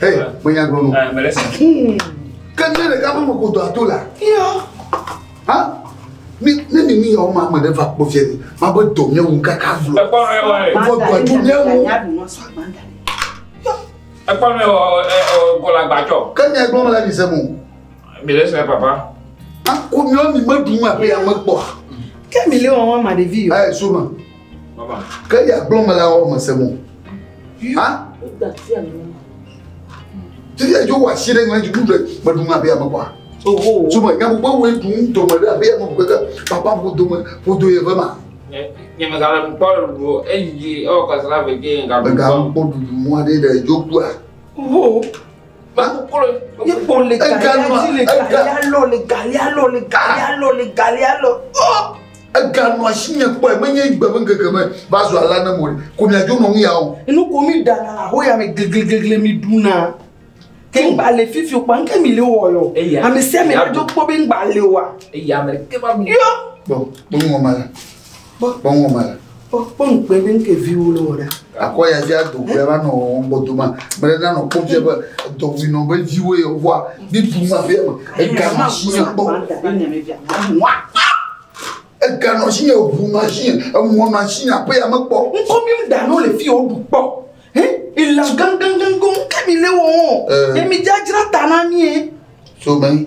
Hey, me nya gblɔ no. Ah, me lesi. Hmm. Ke ne le gamu me kodo ato la. Yo. Ha? Ne ne ni ni yawo ma me ɖe va kpɔ fia ni, ma be dɔ mía ŋu kaka vlo. Ekpɔ nɔ ewa ye. Vɔ dɔ tu mía ŋu. Ekpɔ nɔ ewa ɔ kɔla gbadzɔ. Ke mía gblɔ me la ni se mo. Mi le sɛ papa. Akɔ mía mi me ɖu ma pe ya me kpɔ. Ke mi le wɔn ma ɖevi yo. Ɛ suma. Ke ya gblɔ me la wɔ me se mo. Ha? Ti ya jo wa si ɖe ŋlɛ dzi ɖe me ɖu ŋa be ame kwa. Tuma nya gbogbo wo ɖu dome ɖe abe ame gbogbo ke papa bo dome bo do ye ve ma. Nye me gale mu kpɔ ɖu eyi ɔ kasra ve ke ŋga. Me ga kpɔ ɖu mɔ ɖe ɖe jo kua. Ipo le galialo le galialo le galialo le galialo le galialo. Eganɔ asi nye kpɔe menye gbe me ŋkeke me va zu ala ne mo ko miadzo nɔ ŋu ya o. Enu ko mi ɖana le ahoya me glegleglegle mi ɖuna. Ke ŋgba le fifi o kpa ŋke mi le wɔ lɔ. Ame sia ame aɖo kpɔ be ŋgba le oa. Eya me ke va mi. Yɔ. Kpɔ kpɔ ŋgɔ ma la. Kpɔkpɔŋɔ ma la. Kpɔkpɔ ŋkpɛ ɖe ŋkɛ viwo le wɔ ɖa. Akɔ ya via do gbɛ va nɔ ŋgbɔ do ma. Mɛ ɖe nanɔ kpɔ via be dɔ wi nɔ be viwo ye wa bi du ma via me. Ega ma su ne kpɔ. Ega nɔ shi ye ŋu ma shi ye emɔ ma shi ya pe ya me kpɔ. Ŋkɔ mi da no le fi o du kpɔ. He ila gangan gangan ke mi le wo. Emi jajra ta na mi. So mɛ.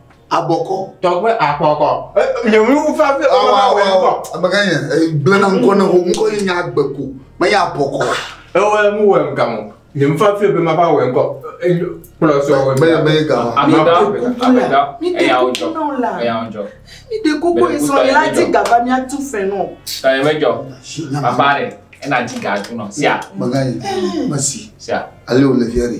abɔkɔ. tɔgbe akɔkɔ nyɔnu fafi ɔwɔwɔ amegã yɛ gblẽna ŋkɔ ne ho ŋkɔ yi nya agbe ko me ya abɔkɔ. ewɔ mu wɔ ŋgã mo nyɔnu fafi be ma ba wɔ ŋkɔ kplɔ sɔ wɔ ŋgã be gã amegã amegã eya ŋjɔ eya ŋjɔ mi de koko esɔ yi la ti gaba mi atu fɛ nɔ tɔ yɛ me jɔ papa rɛ ena ti ga tu nɔ sia mega yi mesi sia ale o le fiɛ de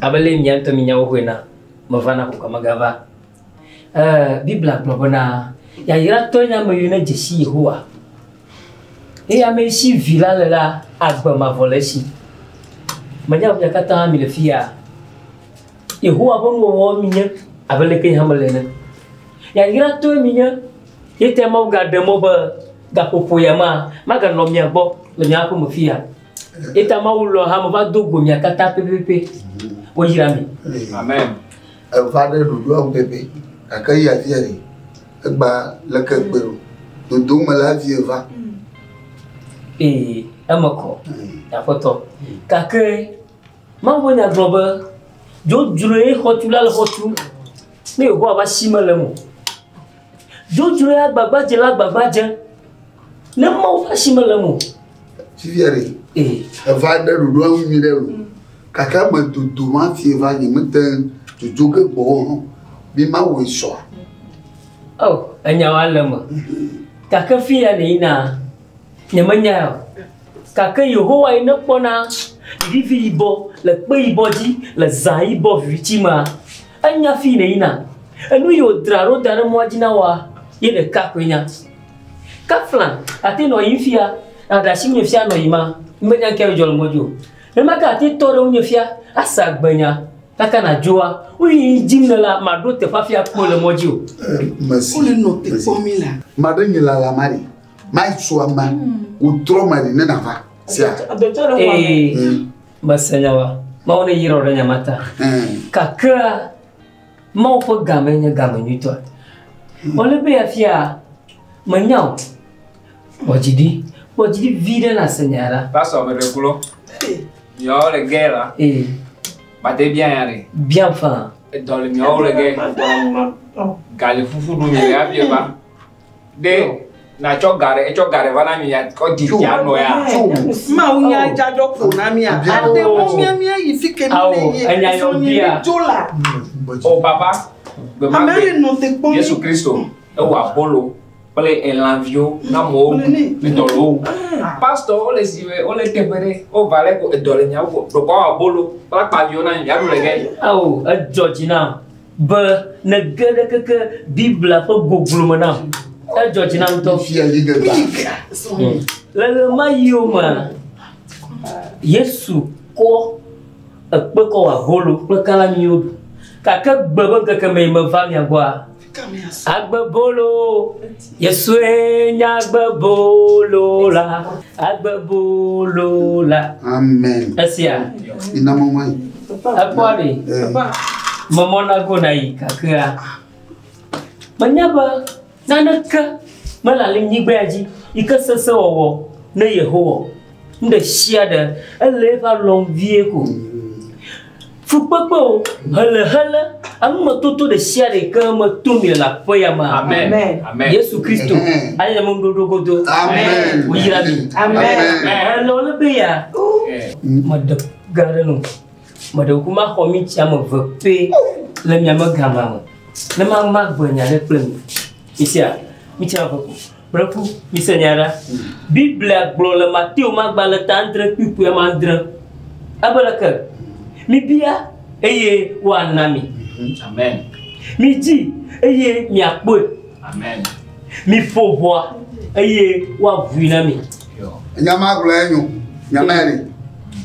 Abe ale mia ŋutɔ minya wo xoe na, meva na kukua megava. E, Biblia gblɔ bena, Yayratɔe nye ame yio nedze si Yehowa, eye ame si Vi la le la agbe mavɔ le esi. Menya be mia katã mile fiya. Yehowa ƒe nuwɔwɔ minye abe leke yehã mele ene. Yayratɔe minye. Ye tae Mawu gaɖe mɔ be gaƒoƒo ya ma maganɔ mia gbɔ le mia aƒeme fiya Eta Mawu lɔ hame va do go mia katã pɛpɛpɛ. Woyra mi. Amen. Eva ɖe ɖoɖoa ŋu pɛpɛ. Gake eya vie ɖe? Egba leke gbe ɖo? Dodo me la vie va. Ee, eme kɔ. Aƒetɔ. Gake Mawu ƒe nya gblɔ be dzodzroe xɔtula le xɔ tum. Ne Yehowa va si mele eme o. Dzodzroe agbagbadzela gbagbadze. Ne Mawu ƒe asi mele eme o. Fifia ɖe. Ee. Eva ɖe ɖoɖo eŋu nyui ɖe o. Gake eme dodo ma fi va nye mete dzodzo ge gbɔ o. Mi ma wòe sɔa. Oh, enyawo ale eme. Gake fi ya ne yina. Nyemenyae o, gake Yehowae nekpɔna vivi yibɔ le kpe yibɔ dzi le zã yibɔ viviti mea. Enya fii nèyina, enu yi wòdra ɖo da ɖe mɔa dzi na wòa, ye ɖeka koe nya. Ke fla ate nɔ yiyim fia nàɖe asi ŋunye fia nɔ yima, menya ŋkee adzɔ le ŋɔdzi o. Nenema ke ate tɔ ɖe ŋunye fia ase agbenya, gake nàdzoa wu yi yi dim nèlea, màɖo teƒe afi akpɔe le mɔ dzi o. Maɖe nye lalamari. Maitso ama wotrɔ ma ne nava sia. Ee, hmm. mese nya wa. Mawu ne yirɔ ɖe nya ma ta. Hmm. Kakra, Mawu ƒe game nye game nyuitɔ. Hmm. Wòle be afia menya o. Kpɔdzidi, kpɔdzidi vi ɖe na se nya ɖa. Pasɔ ame ɖe klo. Yɔ le gɛ la. Ee. Bate bia nya ɖe. Bia fa. Edɔ le miawo le gɛ. Gali fufu ɖu mi le abia ba. ɖe nàtsɔ ga ɖe etsɔ ga ɖe va na mi kɔ di fia nɔ ya. Mawu nya dzadzɔ ƒo na mi a. Ade wo mia mia yi fi ke mi le ye. Enya yɔ bia. Dzo la. O oh, papa. Gbema gbe. Amele nɔ te kpɔ. Yesu Kristo. Ewa bolo. Kple elãviwo na mɔwo edɔlɔwo. Pastor wo le si wo le teƒe ɖe wo va le ko edɔ le nyawo ko. Ɖokɔ wa bolo. Kpla kpaviwo na mi. Yaɖu le gɛ. Awo edzɔ dzi na. be nège ɖe keke Biblia ƒe goglo me nam. Edzɔ dzi nam ŋutɔ. Hmm. Le ɣemaɣiwo me, Yesu kɔ ekpe kɔ wɔ abolo kple kala nyuiwo ɖu. Gake gbe be ŋkeke mee meva mia gbɔa, agbe bolo. Yesue nye agbebolo la, agbebolo la. Amen. Esia. Ina mɔmɔ yi. Ekpɔa ɖe. Mɔmɔ na go na yi kakea. Menya be naneke mele le nyigbea dzi yi ke sese wɔwɔ ne Yehowa. Nu ɖe sia ɖe, ele eƒe alɔ vie ko. Fukpekpe o, hele hele, amemetoto ɖe sia ɖe ke me to mi le aƒe ya me. Amen. Amen. Yesu Kristo, ayi ame ɖoɖo godo. Amen. Woyra mi. Amen. Ele wo le be ya. Meɖe ga ɖe no. Meɖe ku ma xɔ mi tia me ve pe le mi ame gama me. Ne ma ma gbe nya ɖe kple mi. Isia, mi tia ve ko. Kple ku, mise nya ɖa. Biblia gblɔ le Mateo magbalẽta andre kpukpui ame andre. Ebe leke? Mibia, eye woana mi. Amen. Midzi, eye miakpɔe. Amen. Miƒo ʋɔa, eye woavui na mi. Nya ma gblɔ ya nyo. Nya ma li.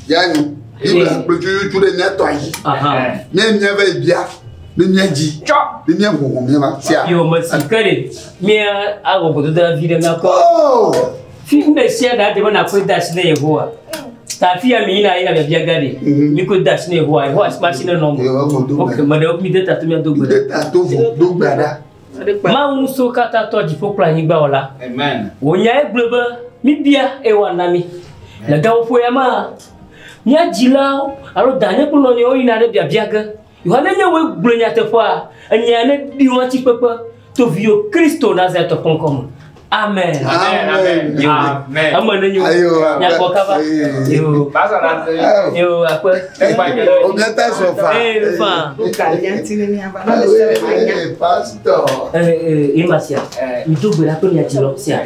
Ya nyo. Biblia gblɔ tututu ɖe mía tɔ dzi. Mía mía va yi bia. Ni mía dzi. Tsɔ. Ni mía ŋuŋu mía ma. Sia. Yɔ mesi ke ɖe. Mía awɔ gbedodoɖa vi ɖe míakpɔ. Oh! Fi ŋɖe sia ɖe ade be nàkɔe de asi na Yehowa. Ta afi ya miyina yina biabia ga ɖi. Mhm. Mi koe de asi na Yehowa. Yehowa asi ma si ne nɔ me. Yehowa vɔ do gbe. Ok, me ɖewo mi de tato mia do gbe. De tato vɔ do gbe ɖa. Mawu ŋusẽwo katã tɔ dziƒo kple anyigba wɔla. Amen. Wò nyae gblɔe be mibia eye wòana mi. Le gaƒoƒo ya mea, mía dzilawo alo danye kple nɔnɔewo yina ɖe biabia ge. Yohane nye woe gblɔe nyateƒea, enyea ne ɖi wɔn atikpekpe to viyo Kristo Nazareth tɔ ƒe ŋkɔ me. Amen. Amen. Amen. Yo. Amen. Eme ne nyo. Ayo. Nyakɔ kaba. Yo. Basa na se. Yo akpe. Obiata so fa. Eh fa. Uka yanti ne nya ba. Eh pastor. Eh eh emasia. Mtu gbera to nya tiro sia.